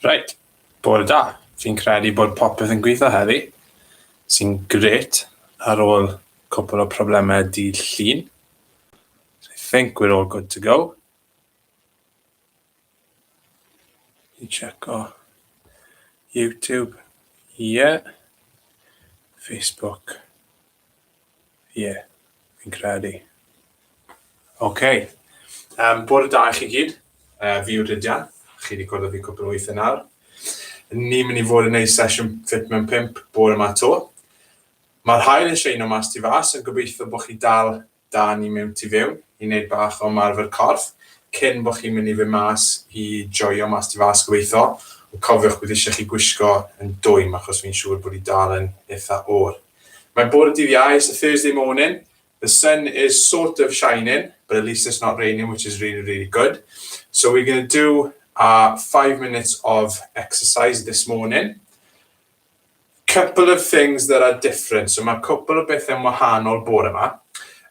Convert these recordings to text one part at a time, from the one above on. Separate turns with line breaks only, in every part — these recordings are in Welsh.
Right, bore da. Fi'n credu bod popeth yn gweithio heddi, sy'n gret ar ôl cwpl o problemau dydd llun. So I think we're all good to go. I checo YouTube, ie. Yeah. Facebook, ie. Yeah. Fi'n credu. OK. Um, bod y da i chi gyd. Uh, fi yw Rhydian. Chi wedi gwrdd fi cwpl o weithiau nawr. Ni'n mynd i fod yn gwneud sesiwn ffit mewn pimp bod yma to. Mae'r hael yn sheino mas ti fas, yn gobeithio bod chi dal da ni mewn tu fewn i neud bach o ymarfer corff cyn bo chi'n mynd i fyn mas i joio mas tu fas gobeitho ond cofiwch bydd eisiau chi gwisgo yn dwym achos fi'n siŵr bod hi dal yn itha oer. Mae bore dydd Iau, it's a Thursday morning, the sun is sort of shining but at least it's not raining which is really really good so we're going to do our five minutes of exercise this morning Couple of things that are different, so mae cwpl o bethau'n wahanol bore yma.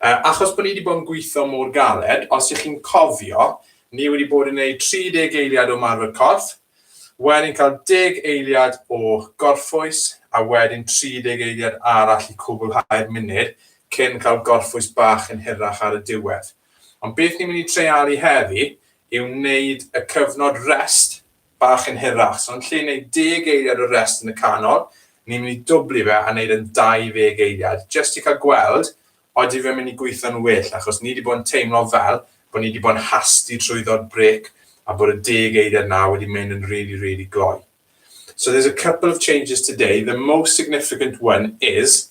Uh, achos bod ni wedi bod yn gweithio mor galed, os ych chi'n cofio, ni wedi bod yn gwneud 30 eiliad o marfer corff, wedyn cael 10 eiliad o gorffwys, a wedyn 30 eiliad arall i cwblhau'r munud cyn cael gorffwys bach yn hirach ar y diwedd. Ond beth ni'n mynd i treialu heddi yw wneud y cyfnod rest bach yn hirach. So yn lle neud deg eiliad o rest yn y canol, ni'n mynd i dwbli fe a neud e'n 20 eiliad, jyst i cael gweld odi fe'n mynd i gweithio'n well, achos ni 'di bod yn teimlo fel bod ni 'di bod yn hasti trwyddo'r brêc a bod y deg eiliad 'na wedi mynd yn rili, rili gloi. So there's a couple of changes today, the most significant one is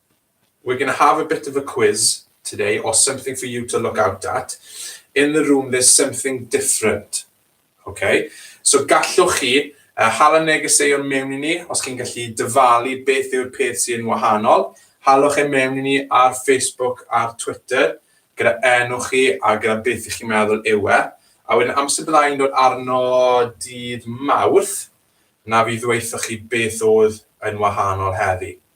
We're gonna have a bit of a quiz today or something for you to look out at. In the room there's something different. Ok, so gallwch chi uh, hala negeseuon mewn i ni os chi'n gallu dyfalu beth yw'r peth sy'n wahanol. Halwch e mewn i ni ar Facebook a'r Twitter gyda enw chi a gyda beth ych chi'n meddwl yw e. A wedyn amser byddai'n dod arno dydd mawrth, na fi ddweithio chi beth oedd yn wahanol heddi.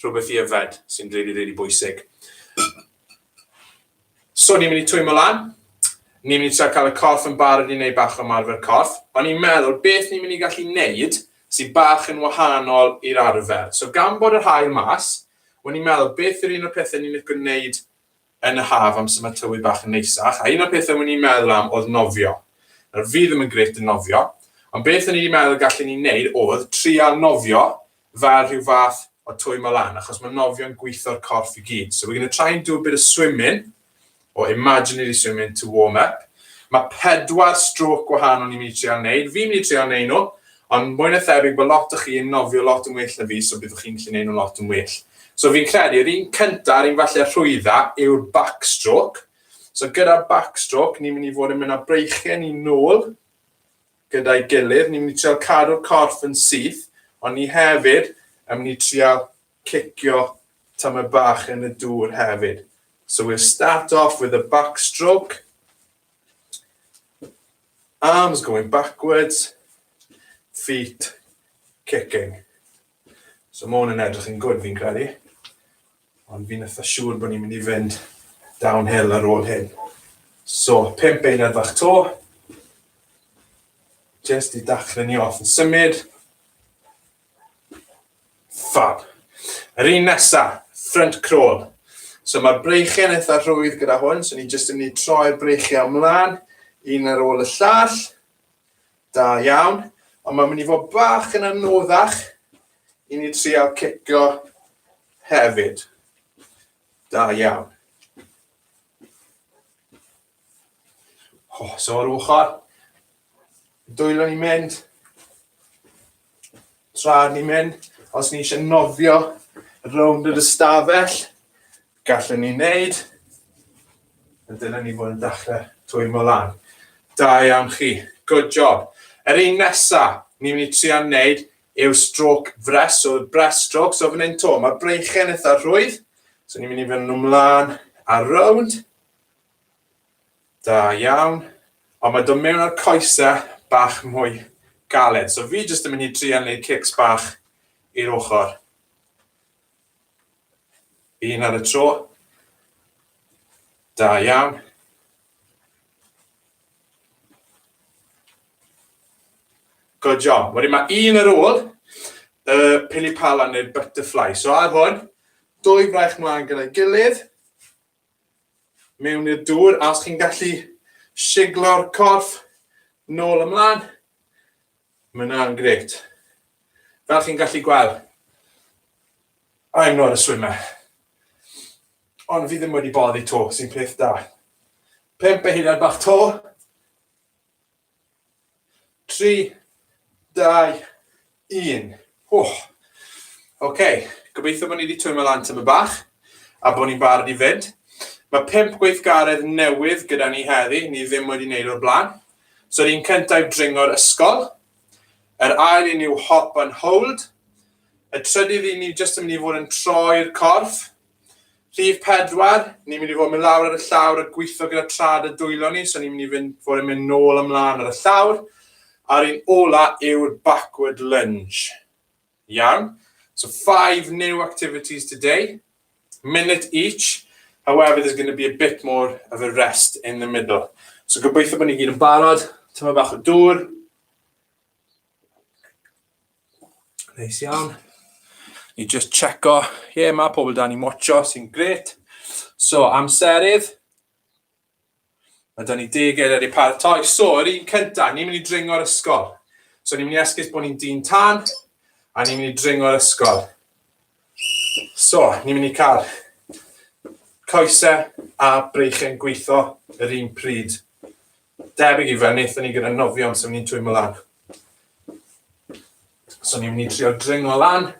rhywbeth i yfed sy'n rili rili bwysig. So ni'n mynd i twymo lan, ni'n mynd i trio cael y corff yn barod i wneud bach o ymarfer corff, ond ni'n meddwl beth ni'n mynd i gallu wneud sy'n bach yn wahanol i'r arfer. So gan bod yr haul mas, o'n i'n meddwl beth yw'r un o'r pethau ni'n licio wneud yn y haf amser mae tywydd bach yn neisach, a un o'r pethau o'n i'n meddwl am oedd nofio. Nawr, fi ddim yn grêt yn nofio, ond beth o'n i wedi meddwl gallen ni wneud oedd trial nofio fel rhyw fath o twymo lan, achos mae nofio'n gweithio'r corff i gyd. So we're going to try and do a bit of swimming, or imaginary swimming to warm up. Mae pedwar stroke gwahanol ni'n mynd i trial wneud, fi'n mynd i trial wneud nhw, Ond mwy na thebyg bod lot o chi yn nofio lot yn well na fi so byddwch chi'n gallu neud nhw'n lot yn well. So fi'n credu yr un cynta a'r un falle rhwydda yw'r backstroke. So gyda'r backstroke ni'n mynd i fod yn mynd â breichiau ni nôl gyda'i gilydd. Ni'n mynd i trial cadw'r corff yn syth ond ni hefyd yn mynd i trial cicio tamaid bach yn y dŵr hefyd. So we'll start off with a backstroke. Arms going backwards, feet kicking. So mae hwn yn edrych yn gwrdd fi'n credu. Ond fi'n eitha siŵr bod ni'n mynd i fynd downhill ar ôl hyn. So, pimp eiliad fach to. Just i dachrau ni off yn symud. Fab. Yr un nesa, front crawl. So mae'r breichiau'n eitha rhwydd gyda hwn, so ni jyst yn mynd i troi'r breichiau ymlaen, un ar ôl y llall. Da iawn. Ond mae'n mynd i fod bach yn anoddach i ni trial cicio hefyd. Da iawn. Oh, so ar ochr, dwylo ni'n mynd, tra'r ni'n mynd, os ni eisiau nofio rownd yr ystafell, gallwn ni wneud, a dyna ni fod yn dechrau twymo lan. Da iawn chi, good job. Yr un nesa, ni'n mynd i trio wneud yw stroke fres, so breast stroke, so fan hyn to, mae breichen eitha rhwydd, so ni'n mynd i fynd nhw mlaen a rownd, Da iawn. Ond mae dod mewn â'r coesau bach mwy galed. So fi jyst yn mynd i trial neud cics bach i'r ochr. Un ar y tro. Da iawn. Good job. Wedyn mae un ar ôl y uh, pili pala neu'r butterfly. So ar hwn, dwy fraich mlaen gyda'i gilydd. mewn i'r dŵr a os chi'n gallu siglo'r corff nôl ymlaen, mae hwnna'n gret. Fel chi'n gallu gweld, I'm not a swimmer. Ond fi ddim wedi boddi to, sy'n peth da. Pemp eiliad bach to, 3, 2, 1. Wch. OK, gobeithio bod ni wedi twymio lan tyma bach a bod ni'n barod i fynd. Mae pimp gweithgaredd newydd gyda ni heddi, ni ddim wedi wneud o'r blaen. So ni'n cyntaf dringo'r ysgol. Yr ail i ni yw hop and hold. Y trydydd i ni jyst yn mynd i fod yn troi'r corff. Rhif pedwar, ni'n mynd i fod yn mynd lawr ar y llawr a gweithio gyda trad y dwylo ni, so ni'n mynd i fynd, fod yn mynd nôl ymlaen ar y llawr, a'r un ola yw'r backward lunge. Iawn, so five new activities today, minute each, however there's going to be a bit more of a rest in the middle. So gobeithio bod ni gyd yn barod, tyma bach o dŵr, Neis iawn. Ni just checo. Ie, yeah, mae pobl da ni'n watcho, sy'n gret. So, amserydd. Mae da ni deg eiliad i paratoi. So, yr un cyntaf, ni'n mynd i dringo'r ysgol. So, ni'n mynd i esgus bod ni'n dyn tan, a ni'n mynd i dringo'r ysgol. So, ni'n mynd i cael coesau a breichiau'n gweithio yr un pryd. Debyg i fe wnaethon ni gyda nofion sef ni'n twymo lan. So ni'n mynd i trio dringo lan.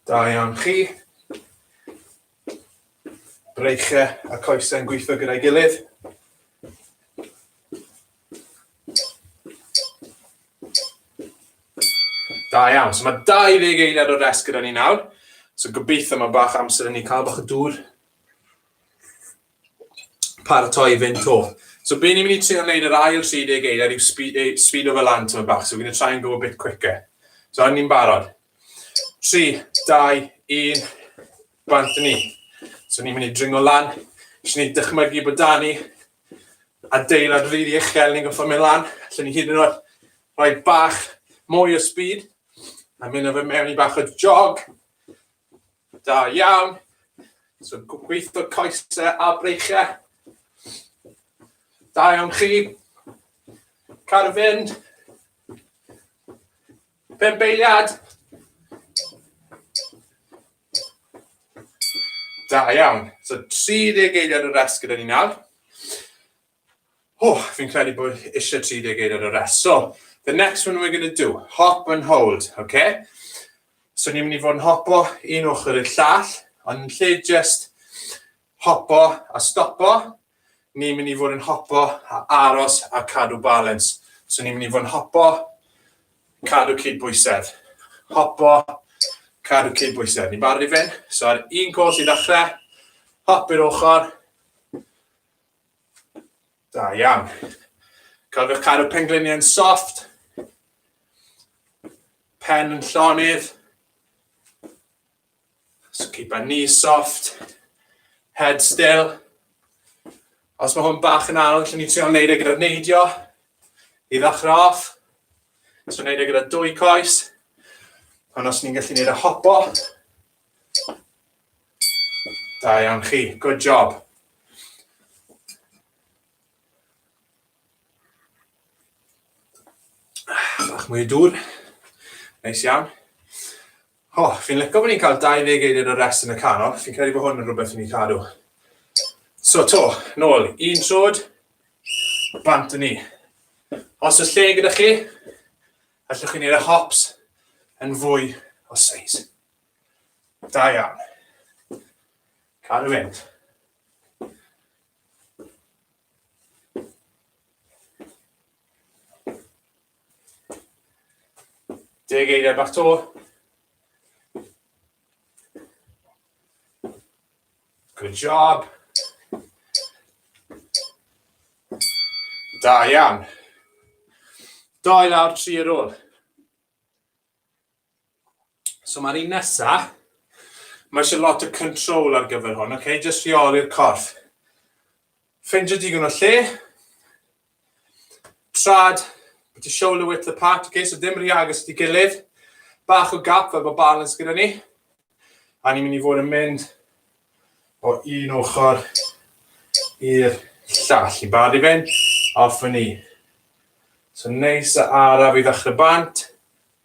Da iawn chi. Breichiau a coesau'n gweithio gyda'i gilydd. Da iawn. So mae 20 eiliad o rest gyda ni nawr. So gobeithio mae bach amser yn ni cael bach o dŵr. Paratoi fynd to. So be ni'n mynd i trio wneud yr ail 30 eiliad yw speed o fel lan tyma bach. So we're going to try and go a bit quicker. So ni'n barod. 3, 2, 1. Bant ni. So ni'n mynd i dringo lan. Jyst ni'n dychmygu bod da ni adeilad rili uchel, ni'n goffa mynd lan. Lle ni hyd yn oed rhoi bach mwy o speed. A mynd o fe mewn i bach o jog. Da iawn. So gweithio coesau a breichiau. Da iawn chi. Car fynd. Pembeiliad. Da iawn. So 30 eiliad o rest gyda ni nawr. Oh, fi'n credu bod eisiau 30 eiliad o rest. So, the next one we're going to do, hop and hold, okay? So ni'n mynd i fod yn hopo un ochr i'r llall, ond yn lle just Hopo a stopo, ni'n mynd i fod yn hopo a aros a cadw balens. So ni'n mynd i fod yn hopo, cadw cydbwysedd. Hopo, cadw cydbwysedd. Ni'n barod i fynd? So ar un cwrs i ddechrau, hop i'r ochr. Da iawn. Cofiwch cadw pengliniau yn soft. Pen yn llonydd. So keep our knees soft, head still. Os mae hwn bach yn anodd, lle ni'n trio wneud e gyda'r neidio i ddechrau off. So wneud e gyda dwy coes. Ond os ni'n gallu wneud y hopo, da iawn chi, good job. Bach mwy o dŵr, neis iawn. O, fi'n lico bod ni'n cael 20 eiliad o rest yn y canol, fi'n credu bod hwn yn rhywbeth i ni cadw. So to, nôl, un trod, bant yn ni. Os oes lle gyda chi, allwch chi'n neud y hops yn fwy o seis. Da iawn. Cadw fynd. Deg eiriau bach to. Good job. Da iawn. Dau lawr, tri ar ôl. So mae'r un nesaf, mae eisiau lot o control ar gyfer hwn, okay? jyst rheoli'r corff. Ffeindio digon o lle, trad, put your shoulder width apart, okay? so dim rhy agos i gilydd, bach o gap fel bod balance gyda ni, a ni'n mynd i fod yn mynd o un ochr i'r llall, i bad i fynd, off yn ni. So neis a araf i ddechrau bant,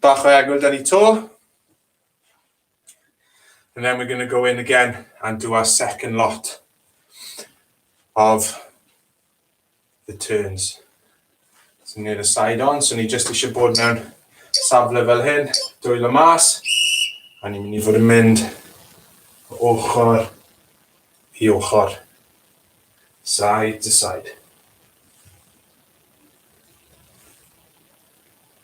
Bach o egwyl da ni to. And then we're going to go in again and do our second lot of the turns. So ni'n y side on, so ni just eisiau bod mewn safle fel hyn, dwylo mas, a ni'n mynd i fod yn mynd o ochr i ochr, side to side.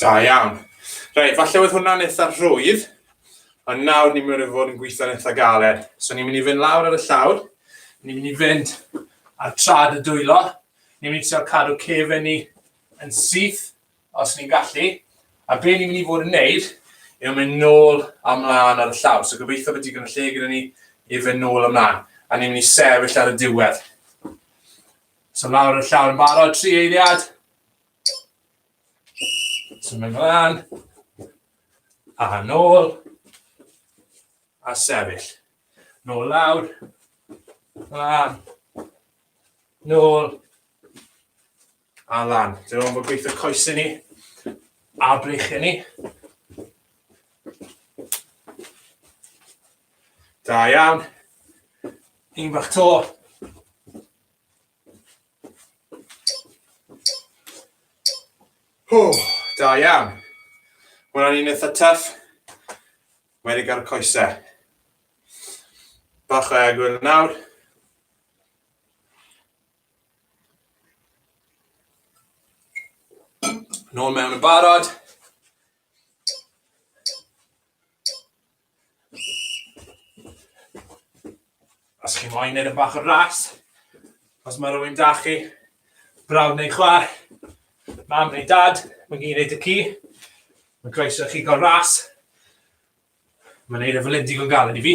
Da iawn. Reit, falle oedd hwnna'n eitha rhwydd, ond nawr ni'n mynd i fod yn gweithio'n eitha galed. So ni'n mynd i fynd lawr ar y llawr, ni'n mynd i fynd ar trad y dwylo, ni'n mynd i trio cadw cefen ni yn syth os ni'n gallu, a be ni'n mynd i fod yn neud yw mynd nôl a mlaen ar y llawr. So gobeithio bod digon o lle gyda ni i fynd nôl a mlaen, a ni'n mynd i sefyll ar y diwedd. So lawr ar y llawr yn barod, tri eiliad, Symud ymlaen. A nôl. A sefyll. Nôl lawr. Lan. Nôl. A lan. Dyna o'n bod gweithio coesau ni. A breichau ni. Da iawn. Un bach to. Hww, da iawn. Hwna'n un eitha tuff. Wedi gael y coesau. Bach o egwyl nawr. Nôl mewn yn barod. Os chi moyn neud e bach yn ras, os ma' rywun 'da chi, brawd neu chwaer, mam neu dad, ma'n gei neud y ci, ma'n croeso i chi ga'l ras, ma'n neud e fel 'yn digon galed i fi.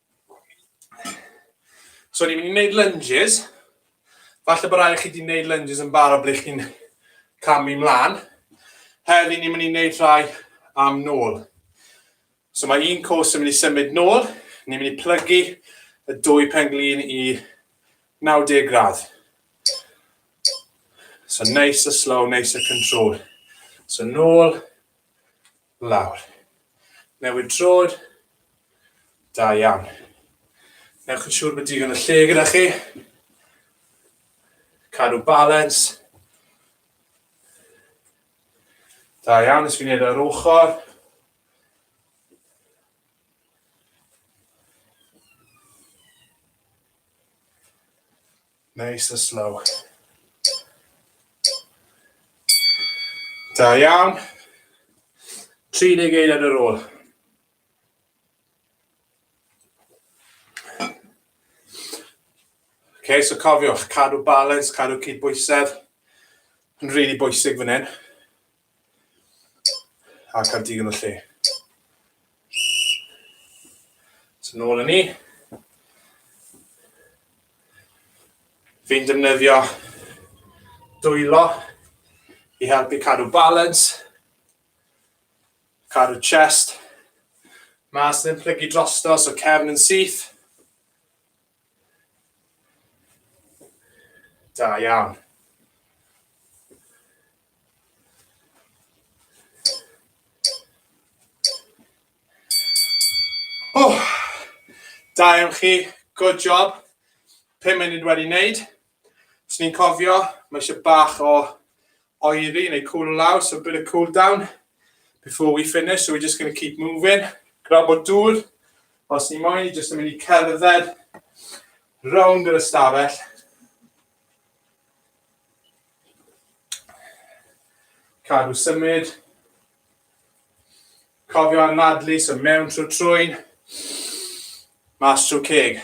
So ni'n mynd i wneud lunges. Falle bod rhaid chi wedi wneud lunges yn barod ble chi'n camu mlaen. Heddi ni'n mynd i wneud rhai am nôl. So mae un cwrs yn mynd i symud nôl. Ni'n mynd i plygu y dwy penglin i 90 gradd. So neis a slow, neis a control. So nôl, Lawr. Newid trod. Da iawn. Newch yn siŵr bod digon o lle gyda chi. Cadw balans. Da iawn, nes fi wneud ar ochr. Neis a slow. Da iawn. 30 eiliad ar ôl. Okay, so cofiwch, cadw balans, cadw cydbwysedd. Yn rili really bwysig fan hyn. A cael digon o lle. So nôl yn ni. Fi'n defnyddio dwylo i helpu cadw balans, cadw chest, mas yn plygu drosto, so cefn yn syth. Da iawn. Oh, da iawn chi, good job. 5 munud wedi wneud. Os ni'n cofio, mae eisiau bach o oeri neu cool lawr, so a bit of cool down before we finish, so we're just going to keep moving. Grab o dŵr, os ni moyn, ni jyst yn mynd i cerdded rownd yr ystafell. Cadw symud. Cofio anadlu, so mewn trwy trwy'n, mas trwy ceg.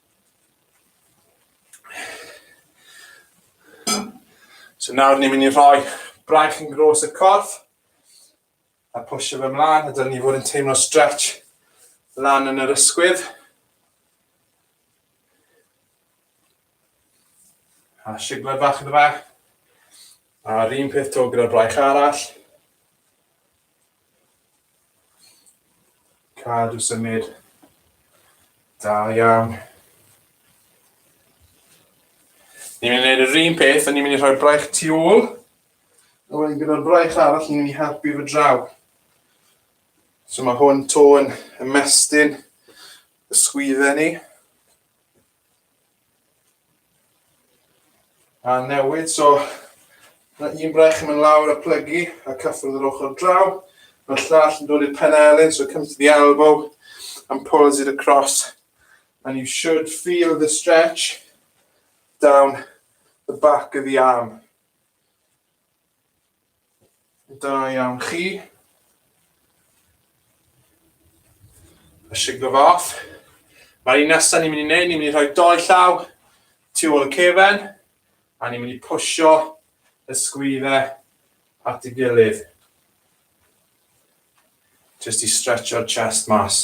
So nawr ni'n mynd i rhoi braich yn gros y corff a pwysio fe mlaen a dylen ni fod yn teimlo stretch lan yn yr ysgwydd. A siglen fach yn y fe. A'r un peth to gyda'r braich arall. Cadw symud. Da iawn. Ni'n mynd i wneud yr un peth, a ni'n mynd i rhoi braich tu ôl. A wedyn gyda'r braich arall, ni'n mynd i helpu fy draw. So mae hwn to yn ymestyn y sgwydden ni. A newid, so mae un brech yn mynd lawr a plygu a cyffwrdd yr ochr draw. Mae'r llall yn dod i'r pen elyn, so come to the elbow and pulls it across. And you should feel the stretch down the back of the arm. Da iawn chi. A siglo fo off. Mae'r un nesaf ni'n mynd i wneud, ni'n mynd i rhoi doi llaw tu ôl y cefen, a ni'n mynd i pwysio y sgwydde at y gilydd. Just i stretcho'r chest mas.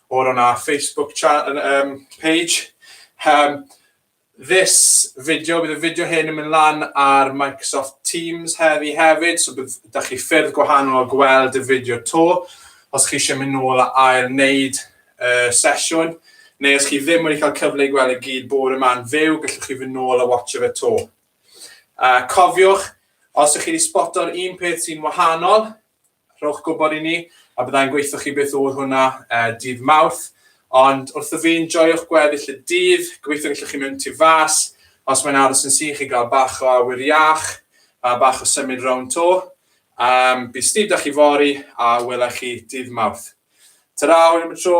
or on our Facebook channel um, page. Um, this video, bydd y fideo hyn yn mynd lan ar Microsoft Teams heddi hefyd, so bydd, da chi ffyrdd gwahanol o gweld y fideo to, os chi eisiau mynd nôl a ail wneud uh, sesiwn, neu os chi ddim wedi cael cyfle i gweld y gyd bore yma'n fyw, gallwch chi fynd nôl a watch fe to. Uh, cofiwch, os ydych chi wedi spoto'r un peth sy'n wahanol, Rhowch gwybod i ni a bydda i'n gweithio chi beth oedd hwnna dydd Mawrth. Ond wrth y fin, joiwch gweddill y dydd, gobeithio gallwch chi mynd tu fas, os mae'n aros yn sych i gael bach o awyr iach a bach o symud rownd 'to. Um, bydd Steve da chi fori a welai chi dydd Mawrth. Ta-ra, hwyl am y tro.